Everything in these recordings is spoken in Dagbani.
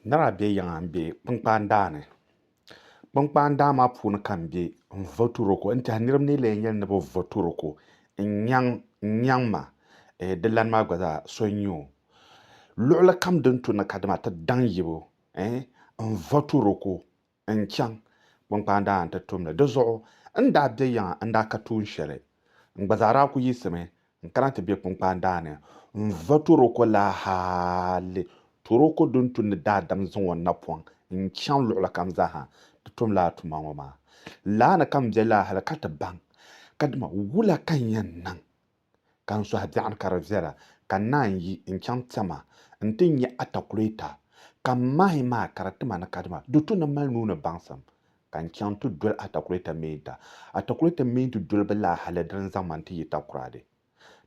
Nira bɛ yiŋa n bɛ kpankpaan daa ni kpankpaan daa maa puuni ka n bɛ n votiro ko n tiɛhi niraba ni yi lee yɛli ni bi votiro ko n nyaŋ ma di lani maa gba zaa so n nyɛ o luɣuli kam din tuni ka dama ti daŋ yibu n votiro ko n-chaŋ kpaŋkpaa daa nti tum li. Di zuɣu n daa be yiŋa n-daa ka tuun shɛli. N gba zaa daa ku yiɣisimi n-kana ti be kpaŋkpaa daa ni n-va Toroko la hali Toroko din tu ni daadam zaŋ o napɔŋ n-chaŋ luɣili kam zaa ha nti tum lala tuma ŋɔ maa. Laa ni ka m be laa hali ka ti baŋ kadama wula ka n yɛn niŋ. ka n sɔhi biɛɣuni ka di viɛla, ka n naan yi n chaŋ Tɛma nti nya atakulɛta, ka m mahi maa ka di ti ma ni kadama di to ni m mali nuu ni baŋsim, ka n chaŋ nti doli atakulɛta meenta. Atakulɛta meenti doliba laa hali di ni zaŋ ma nti yi Takoradi.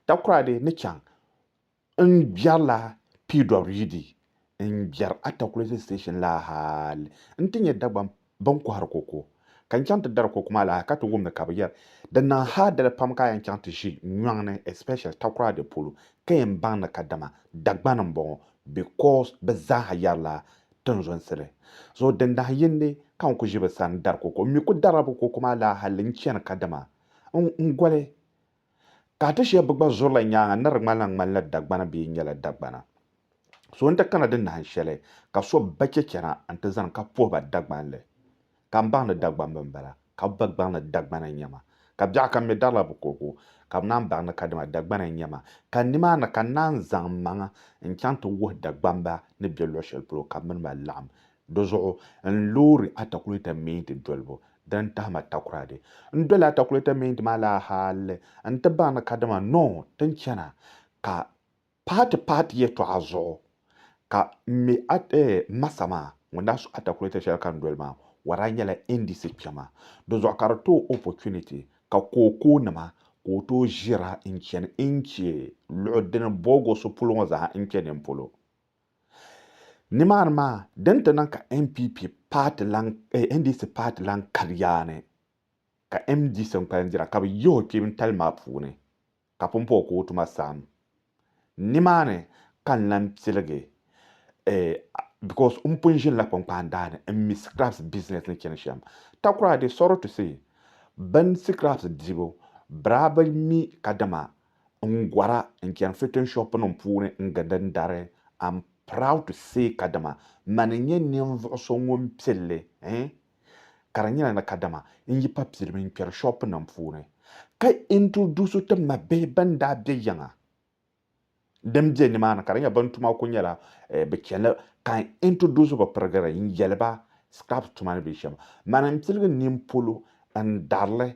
Takoradi ni chaŋ N biɛrila piidɔbiri yi di n biɛri Atakulese Station la hal nti nya Dagbaŋ bɛ ni kɔhiri koko. Ka n chaŋ ti dari koko maa la hal ka ti wum ni ka bɛ yɛri, Di niŋ hal dali pam ka a yɛn chaŋ ti ʒi nyɔŋ ni, especially Takoradi polo, ka yɛn baŋ ni kadama Dagbani m-bɔŋɔ because bɛ zaa ha yɛrila tinzonsili. So dindahiyindi ka n ku ʒi bɛ sani dari koko. M mi ku darila bɛ koko maa la hal n chani kadama n goli Ka a ti shɛb bi gba zurila nyaaŋa ni di ŋmanila ŋmanila Dagbana bee nyɛla Dagbana. So n-ti kana di nahin shɛli ka so ba chɛ chana nti zani ka puhi ba Dagbanli. Ka m baŋdi Dagbamba m-bala, ka bɛ gba gbaŋdi Dagbana n-nyɛ ma. Ka biɛɣu kam mi darila bɛ kuhigu, ka bɛ naan baŋdi ka dama Dagbana n-nyɛ ma. Ka nimaani ka n naan zaŋ m maŋa n-chaŋ ti wuhi Dagbamba ni be luɣ shɛli polo ka bɛ mini ba laɣim Di zuɣu n loori atakulɛta miinti dolibu din tahima takura di. N doli atakulɛta miinti maa laa hal n ti baŋ ni kadama noo ti ni chana ka paati paati yɛtɔɣa zuɣu ka m mi m ma sa maa ŋun daa su atakulɛta shɛli ka n doli maa o daa nyɛla NDC kpɛma. Di zuɣu ka di ti o opportunity ka kookoo nima ka o tooi ʒira n chani n che luɣi dini boogosi polo ŋɔ zaa n che nini polo. Nimaani maa din ti niŋ ka NPP paati lan eh, NDC paati lan kali yaa ni ka MDC n-kpalim dira ka bɛ yihi o kpee n-tali maa puuni ka pun pa o ka o tuma saɣim. Nimaani ka n lan piligi eh, because m pun ʒinila kpaŋkpaan daa ni m-mi scraps business ni chani shɛm. Takura I dey sorry to say, bɛ ni scraps dibu, biraaba mi kadama N gɔra n chani fitting shop nim puuni n gindi n dari. I'm proud to say kadama mani n nyɛ ninvuɣu so ŋun pilli eh ka di nyɛla ni kadama n yi pa pilimi n kpɛri shop nim puuni ka introduce ti ma bihi ban daa bɛ yiŋa din bɛ ni maa ni ka di nyɛ ban tuma ku nyɛla eh, bi chɛnli ka n introduce bi pirigiri n yɛli ba scraps tuma ni bɛ shɛm mani n piligi nini polo n darili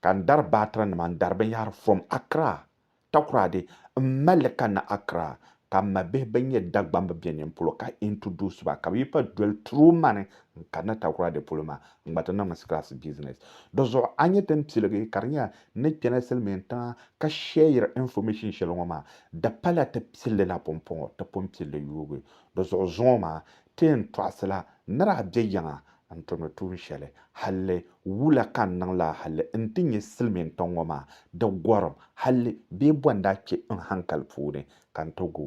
ka n dari baatura nima n dari binyɛhiri from Accra, Takoradi m mali li ka na Accra ka m ma bihi bɛn nyɛ Dagbamba be nin polo ka introduce ba ka bɛ yi pa doli through mani n kani na Takoradi polo maa n gba ti niŋ mi scratch business di zuɣu a nyɛ din piligi ka di nyɛla ni kpɛna silimiin tiŋa ka share information shɛli ŋɔ maa di pala ti pilli la pumpɔŋɔ ti pun pilli yuugi di zuɣu zuŋɔ maa ti yɛn tɔɣisila nira a be yiŋa N tumdi tuun shɛli halli wula ka n niŋ laa halli n ti nyɛ silimiin tiŋ ŋɔ maa di gɔrim halli bee bɔ n daa kpe n hankali puuni ka n ti gu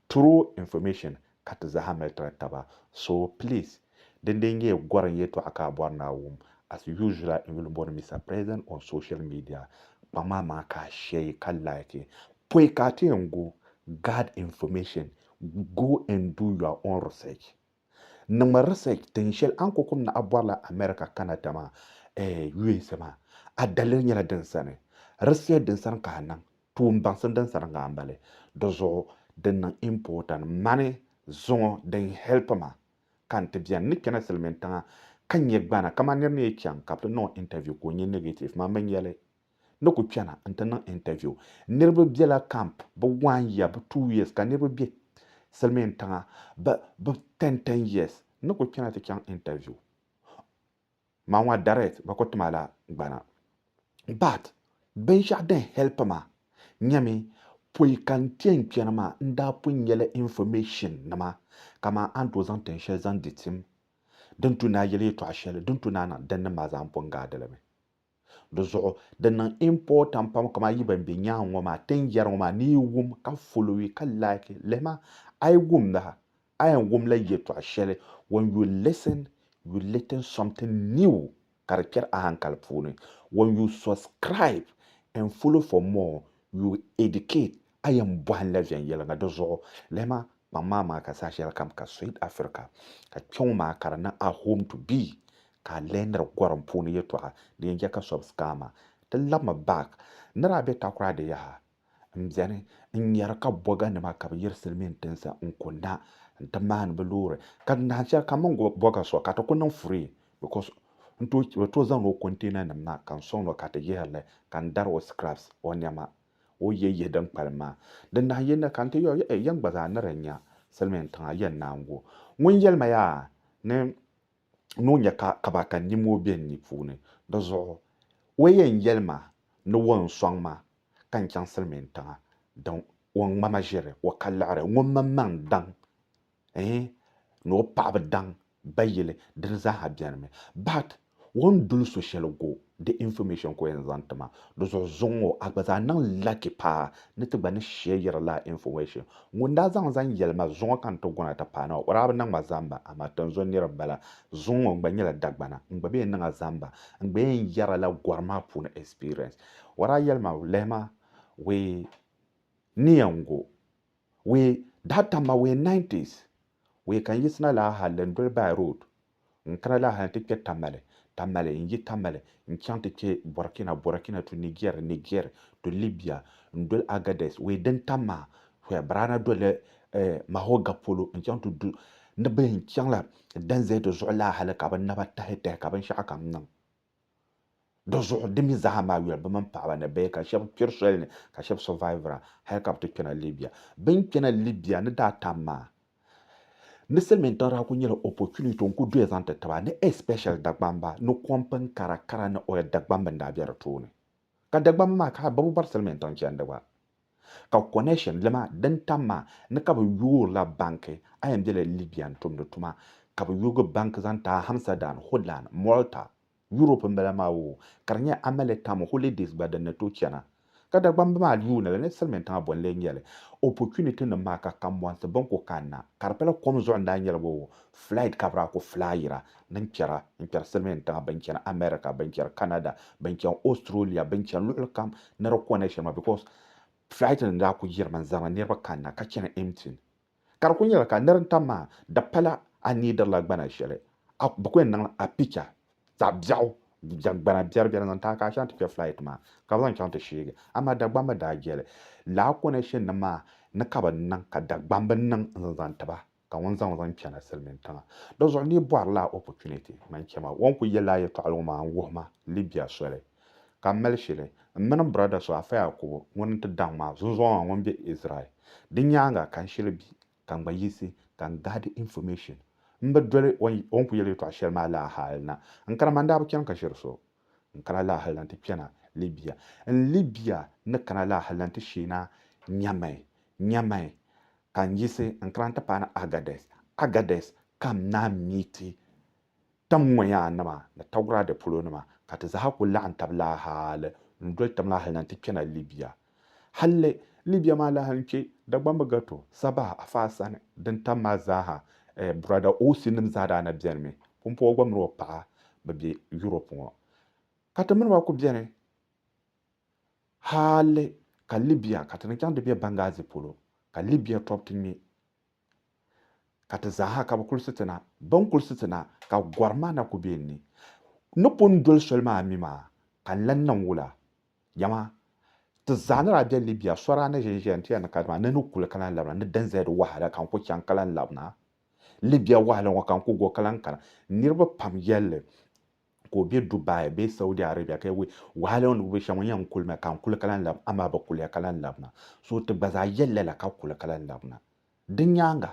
true information ka ti zaa ha mali tiri taba so please din dee nyɛ gɔri n yɛtɔɣa ka a bɔri ni a wum as usually n yuli bɔri Mister President on social media kpaŋ amaa ka a share ka like pɔi ka a ti yɛn gu guard information go and do your own research. Niŋmi research tin shɛli an kokum ni a bɔrila America kana dama eh USA maa a daliri nyɛla din sani. Research din sani ka a niŋ, tuun baŋsim din sani ŋa m-bali. Di zuɣu din niŋ important mani zuŋɔ din help ma ka n ti beni. N ni kpɛna silimiintiŋa ka nyɛ gbana kaman nir ni yi chaŋ ka bɛ ti niŋ o interview ka o nyɛ negative, man mi nya li. ni ku chana n-ti niŋ interview. Niriba bela camp bɛ one year, bɛ two years ka niriba be silimiin tiŋa bɛ bɛ ten ten years ni ku chana ti chaŋ interview maa ŋɔ direct bɛ ku ti ma la gbana. But binshɛɣu din help ma nyɛmi pɔi ka n ti yɛn chani maa n daa pun nyɛla information nima kaman a ni tooi zaŋ tin shɛli zaŋ di tim din tu ni a yeli yɛtɔɣa shɛli din tu ni a niŋ din ni maa zaa n pun gaadili mi. Di zuɣu, di niŋ important pam kaman yi ban be nyaaŋa ŋɔ maa tin yɛri ŋɔ maa ni yi wum ka followi ka like lihima a yi wum laha a yɛn wum la yɛtɔɣ shɛli when you listen you litten something new ka di kpɛri a hankali puuni when you subscribe and follow for more you educate A yɛn bɔhinla viɛnyɛliŋga di zuɣu? Lɛma, kpaŋ maa maa ka saha shɛli kam ka Suid Afirika, ka kpɛŋɔ maa ka di niŋ a home to be, ka a lɛhindiri gɔrim puuni yɛtɔɣa din yɛn chɛ ka so bi skaa maa. Ti labimi back. N ni daa be Takoradi di yaha, m beni n-nyari ka bɔganima ka bɛ yiri silimiin tinsi n-ku na nti maani bɛ loori, ka di nahin shɛli kam mini bɔga so ka ti ku niŋ free because bɛ tooi zaŋla o container nim na ka n sɔŋ ni o ka ti yihiri li ka n dari o scraps, o nɛma. O yi yɛn yihi din kpalim maa, di nahi yi ni ka n ti yɔɔ ya, yɛn gba zaa ni di nya silimiin tiŋa yɛn naan gu. Ŋun yɛli ma yaa ni ni o nya ka ka ba ka nyin moo be n ni puuni, di zuɣu o yɛn yɛli ma ni o ni sɔŋ ma ka n chaŋ silimiin tiŋa din o ŋma ma ʒiri o ka liɣiri ŋun mini ma n daŋ ɛɛn ni o paɣ bi daŋ ba yili dini zaaha bɛni mi but o ni duli so shɛli go di information ka o yɛn zaŋ ti ma di zuɣu zuŋ ŋɔ a gba zaa niŋ lucky paa ni ti gba ni shɛyiri laa information ŋun daa zaŋ zaŋ yɛli ma zuŋɔ ka n ti gona ti paana o daa bi niŋ ma zamba amaa tinzuŋ niriba bala zuŋ ŋɔ n gba nyɛla Dagbana n gba bi yɛn niŋ a zamba n gba yɛn yɛra la gɔri maa puuni experience o daa yɛli ma lɛhi ma wee ni yɛn go Wee daa tam ma wee 90s wee ka n yiɣisina laa hali n doli by road n kana laa hali ti kpɛ Tamale, Tamale, n yi Tamale n chaŋ ti kpɛ Burkina, Burkina to Niger, Niger to Libya n doli Agadez wee din tam maa where bira na doli eh, Mahoga polo n chaŋ ti du ni bɛ yɛn chaŋla Danzete zuɣu laa hali ka bɛ naba tahi tahi ka binshɛɣu kam niŋ. Di zuɣu di mi zaa maa yuli, bɛ mini paɣaba ni bihi, ka shɛba kpiri soli ni, ka shɛba survivira hali ka bɛ ti kpɛna Libya. Bɛ ni kpɛna Libya ni daa tam maa, ni silimiintiŋ daa kuli nyɛla opportunity n-kuli doya zaŋ ti ti ba ni especially Dagbamba ni kom pini kara kara ni oil Dagbamba n-daa be di tooni. Ka Dagbamba maa ka bɛ bi bɔri Silimiin tiŋ chandi gba. Ka connection lima din tam maa ni ka bɛ yoorila banki, a yɛn bela Libya n-tumdi tuma, ka bɛ yoogi banki zaŋ ti Hamsadan, Holland, Malta, Europe m-bala maa oo, ka di nyɛ Amele Tam holidays gba din ni tooi chana. Ka Dagbamba maa yuuni li ni Silimiin tiŋa bɔ n-lee nyɛli. Opportunity nim maa ka kambɔnsi bɛ ni ku kanna, ka di pala kom zuɣu n-daa nyɛli ba oo, flight ka bɛ daa ku flyira, ni n kpɛra n kpɛri silimiin tiŋa bɛn chani America bɛn kpɛri Canada bɛn chani Australia bɛn chani luɣuli kam ni di kɔnɛ shɛli maa because flight nim daa ku yirimi n zaŋla niriba kanna ka chani empty ka di ku nyɛla ka niri n tam maa di pala a needirila gbana shɛli bi ku yɛn niŋla a picture zaɣ biɛɣu gbana biɛri biɛri n zaŋ ti a ka a chaŋ ti kpɛ flight maa ka bi zaŋ chaŋ ti sheegi amaa Dagbamba daa jɛli laa connection nim maa ni ka bi niŋ ka Dagbamb niŋ n zaŋ zaŋ tiba Ka ŋun zaŋ o zaŋ chana silimiin tiŋa. Di zuɣu ni yi bɔri lala opportunity man chema wan ku yɛli a yɛtɔɣili ŋɔ maa n-wuhi ma Libya soli ka m mali shili m mini m brada so Afai Akubo ŋun n-ti daŋ ma zunzɔŋɔ maa ŋun be Israel. Di nyaaŋa ka n shili bi ka n gba yiɣisi ka n gaadi information. M bi doli o ni ku yɛli yɛtɔɣa shɛli maa lala hali na. N kana maa n daa bi chani ka ʒiri so. N kana lala hali na nti kpɛna Libya. N Libya ni kana lala hali na nti sheena Nyamai, Nyamai Ka n yiɣisi n kana ti paani Agades, Agades ka m naa mi ti tam ŋɔ yaa nima ni Tawurade polo nima, ka ti zaaha kul laɣim tab laa hali n doli tam laa hal na nti kpɛna Libia. Halli Libia maa laa n kpe Dagbamba gɛto, Sabah, Afaa sani, din tam maa zaaha, eh, Buraada Osi nim zaa daa na beni mi. Pumpɔɔ gba min o paɣa mi be Yurop ŋɔ. Ka ti mini ba ku beni. Hali ka Libya ka ti ni chaŋ ti be Benghazi polo ka Libya tɔbu ti ŋme ka ti zaaha ka bɛ kuli si ti na. Bɛ ni kuli si ti na ka gɔri maa na kuli be n ni. N ni pun doli soli maa mi maa ka n lan niŋ wula? Dama ti zaa ni daa be Libya, so daa ni ʒin ʒiya n-ti ya ni ka di maa ni ni kuli ka lan labina ni DNZ wahala ka n kuli chaŋ ka lan labina. Libya wahala ŋɔ ka n kuli go ka lan kana. Niriba pam yɛl li. ka o be Dubai bee Saudi Arabia ka ya we wahala ŋɔ ni bi be shɛm ŋɔ yɛn n kuli mi ka n kuli ka lan lab amaa bi kuliya ka lan labina so ti gba zaa yɛli lala ka kuli ka lan labina di nyaaŋa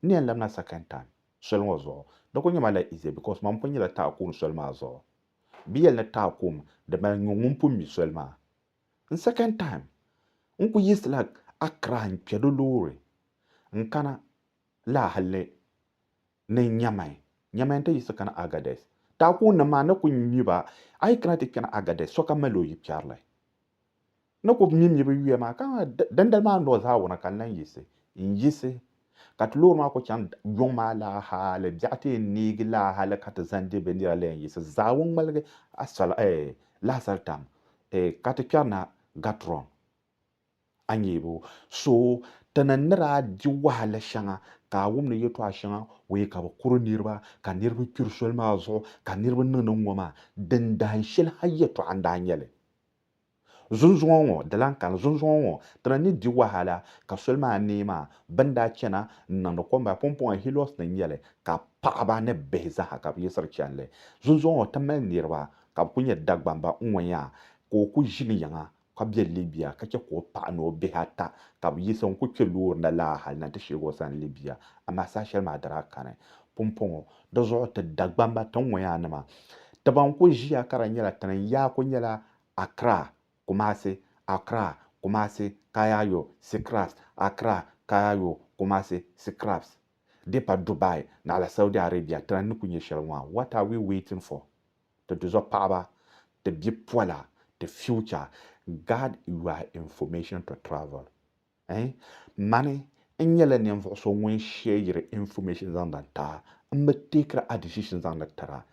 n ni yɛn labina second time soli ŋɔ zuɣu di kuli nyɛma la easy because man pun nyɛla taɣikuun soli maa zuɣu bi yɛli ni taɣikuun di mali nyuŋ ŋun pun mi soli maa n second time n kuli yiɣisila Accra n kpɛ di loori n kana laa hali ni ni nyɛmai, nyɛmai nti yiɣisi kana Agadez. Taakuunnim maa ni ku mi ba, a yi kana ti kpɛna Agadez, sokam mali o yikpɛrili. N ni ku mi mi bɛ yuya maa, ka dindali maa nɔɔ zaa wuna ka n lan yiɣisi, n yiɣisi, ka ti loori maa ku chaŋ yuŋ maa laa hali biɛɣu ti yɛn neegi laa hali ka ti zaŋdi bɛ nira lan yiɣisi zaa wun ŋmaligi lahasaritam, ka ti kpɛrina Gatrɔn. A nyɛ bɛ so ti ni ni daa di wahala shɛŋa ka a wum ni yɛtɔɣ shɛŋa o yɛ ka bɛ kuri niriba, ka niriba kpiri soli maa zuɣu, ka niriba niŋ ni ŋ-ŋɔ maa, din dahin shɛli ha yɛtɔɣ n-daa nyɛ li. Zunzuŋɔ ŋɔ di lan kani, zunzuŋɔ ŋɔ ti ni ni di wahala ka soli maa neei maa, bɛ ni daa chana n-niŋdi kom maa pumpɔŋɔ Heliɔs ni n-nyɛ li, ka paɣiba ni bihi zaaha ka bɛ yiɣisiri chani li. Zunzuŋɔ ŋɔ ti mali niriba ka bɛ kul nyɛ Dagbamba ŋ-ŋɔ yaa, ka o kul ʒi ni yiŋa ka be Libya ka che ka o paɣa ni o bihi ata ka be yiɣisi n-kuli kpe loori na laa hali na nti sheeg o sani Libya, amaa saha shɛli maa di daa kani. Pumpɔŋɔ, di zuɣu ti Dagbamba tiŋŋɔyaa nima ti ban kuli ʒiya ka di nyɛla ti ni yaa kuli nyɛla Accra, Kumasi, Accra, Kumasi, Kayaayo, Seacrafts, Accra, Kayaayo, Kumasi, Seacrafts, di pa Dubai naɣila Saudi Arabia ti lan ni kuli nyɛ shɛli ŋɔ a, what are we waiting for? ti duzɔpaɣiba, ti bipola, ti future, guard your information to travel eh Mani n nyɛla ninvuɣu so ŋun share information zaŋdi n tira, m bi take a decision zaŋdi tira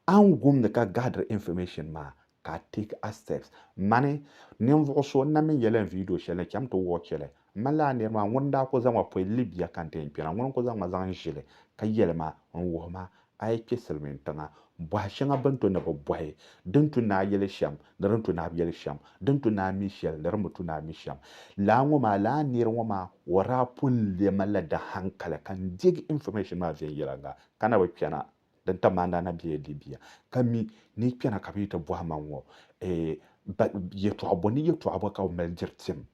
A ni gum ni ka guardiri information maa ka a take a steps Mani ninvuɣu so n na mi yɛli n video shɛli ni cham ti watch li M ma laa nir maa, ŋuni n-daa ku zaŋ ma pɔi Libia ka n-ti yi kpɛna? Ŋuni n-ku zaŋ ma zaŋ n-ʒi li, ka yɛli ma, N-wuhi ma, a yi kpe silimiin tiŋa, bɔhi shɛŋa bɛ ni to ni bɛ bɔhi, di ni tu ni a yɛli shɛm ni di ni tu ni a bi yɛli shɛm, di ni tu ni a mi shɛli ni di ni bi tu ni a mi shɛm. Laa ŋɔ maa, laa nir ŋɔ maa, o daa pun leei ma la dahankali ka n deegi information maa viɛnyɛliŋga, ka na bi kpɛna, di ni tam ma n daa na bela Libia, ka mi ni yi kpɛna ka bɛ yi ti bɔhi ma ŋɔ, eh, ba, yɛtɔɣ bɔ ni yɛtɔɣ bɔ ka bɛ mali diri tim?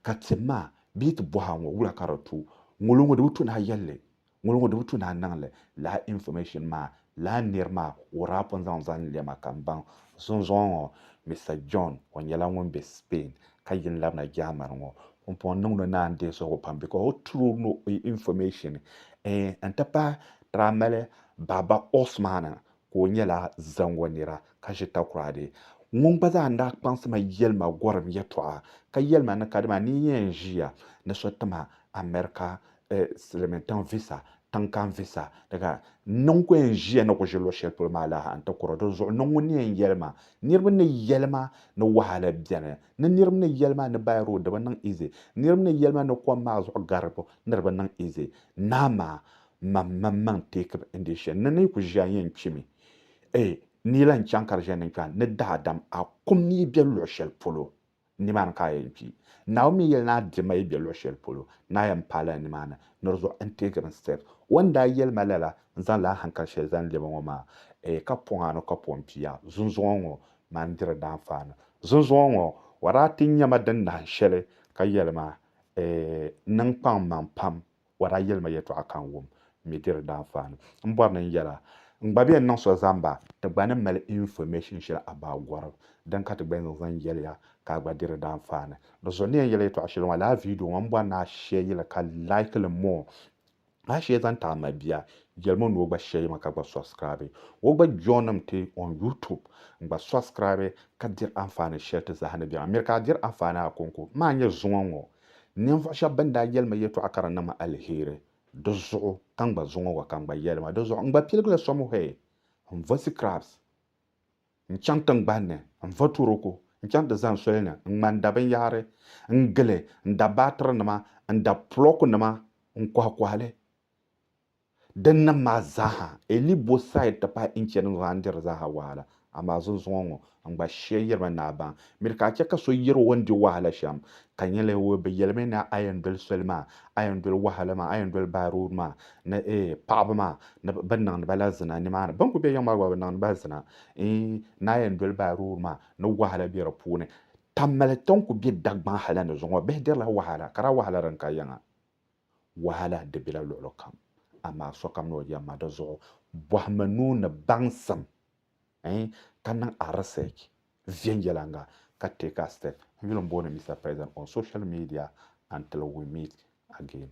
ka tim maa bee ti bɔha ŋɔ wula ka di tu ŋolo ŋɔ di bi tu ni a yɛli li, ŋolo ŋɔ di bi tu ni a niŋ li lala information maa lala nir maa o daa pun zaŋ zali n-lɛm a ka m baŋ zunzuŋɔ ŋɔ Mister John o nyɛla ŋun be Spain ka yi ni labina Germany ŋɔ ŋun pun niŋd o naan deei suhigu pam because o tiri ni o information ɛɛn n-ti pahi daa mali baaba Osman ka o nyɛla zaŋɔ nira ka ʒi takoradi ŋun gba zaa ni daa kpaŋsi ma yɛli ma gɔrim yɛtɔɣa ka yɛli ma ni ka dama ni n yɛn ʒiya ni so ti ma America silimiintiŋ visa, tiŋkani visa ni ka n niŋ ka o yɛn ʒiya ni ku ʒi luɣ shɛli polo maa la ha n-ti kuri o. Dinzuɣu niŋ ŋun ni yɛn yɛli ma niriba ni yɛli ma ni wahala beni ni niriba ni yɛli ma ni by road di bi niŋ easy niriba ni yɛli ma ni kom maa zuɣu gari di bi niŋ easy naa maa Mam mini n ma n-teeki ba n-deei shɛli ni ni yi ku ʒi a yɛn chɛ mi. Ɛ ni lan chaŋ ka di ʒiɛni n-kpe a ni daadam a kum ni yi be luɣ shɛli polo, nimaani ka a yɛn kpi. Naawuni mi yɛli ni a di ma yi be luɣ shɛli polo ni a yɛn paai lala nimaani, ni di zuɣu n-teegir n Stɛf. O ni daa yɛli ma lala, n-zaŋ la a haŋkali shɛli zaŋ lɛb a ŋɔ maa. Ɛ ka pɔŋ a ni ka pɔŋ pii a zunzuŋɔ ŋɔ maa n-diri daanfaani. Zunzuŋɔ ŋɔ, o daa ti nya ma din nahin shɛli ka yɛli ma, Ɛ niŋ kpaŋmaŋ pam O daa yɛli ma yɛtɔɣa ka n wum, n mi di di daanfaani. M bɔri ni n yɛl a, n gba bɛn niŋ so zaŋ ba, ti gba ni mali information shɛli about gɔrim din ka ti gba yɛn zaŋ yɛli ya ka a gba di di daanfaani. Di zuɣu n ni yɛn yɛli yɛtɔɣa shɛli ŋɔ, lala video ŋɔ, m bɔri ni a share yi li ka like li more. A share zaŋ ti a mabia, yɛlim o ni o gba share yi ma ka gba subscribe o gba joinim ti on YouTube n gba subscribe ka diri anfaani shɛli ti zaa ni bɛ maa. Miri ka a diri anfaani a ko n ko. M a nyɛ zuŋɔ ŋɔ. Ninvuɣ shɛb bɛn daa yɛli ma yɛtɔɣa ka di niŋ ma aliheri, di zuɣu ka n gba zuŋɔ gɔ ka n gba yɛli ma. Di zuɣu n gba piligila Samuhɛl n-vo Sikrabs n-chaŋ tiŋgbani ni n-vo Turoko n-chaŋ ti zani soli ni n-ŋma n-da binyɛhiri n-gili, n-da baatirinima, n-da pulɔkunima n-kɔhikɔhi li. Dinnim maa zaaha, Eli bo Said ti pahi Inche din zaa n-diri zaaha wahala, amaa zunzuŋɔ ŋɔ n-gba shia yirimi ni a baŋ. Miri ka a chɛ ka so yir o ni di wahala shɛm, ka nya li o bi yɛlimi ni a yɛn doli soli maa, a yɛn doli wahala maa, a yɛn doli by road maa ni eeh paɣiba maa ni bɛ niŋdi ba la zina nimaani. Bɛ ni kul be yiŋ maa gba bɛ niŋdi ba zina eeh ni a yɛn doli by road maa ni wahala be di puuni. Tammali ti ni kul be Dagbaŋ hal ni zuŋɔ bihi dirila wahala, ka daa wahala din ka yiŋa. Wahala di bela luɣili kam, amaa sokam ni o yɛm ma di zuɣu. Bɔhimi nuu ni baŋsim eh ka niŋ a research viɛnyɛliŋga ka take a step. N yuli m-booni Mister President on social media until we meet again.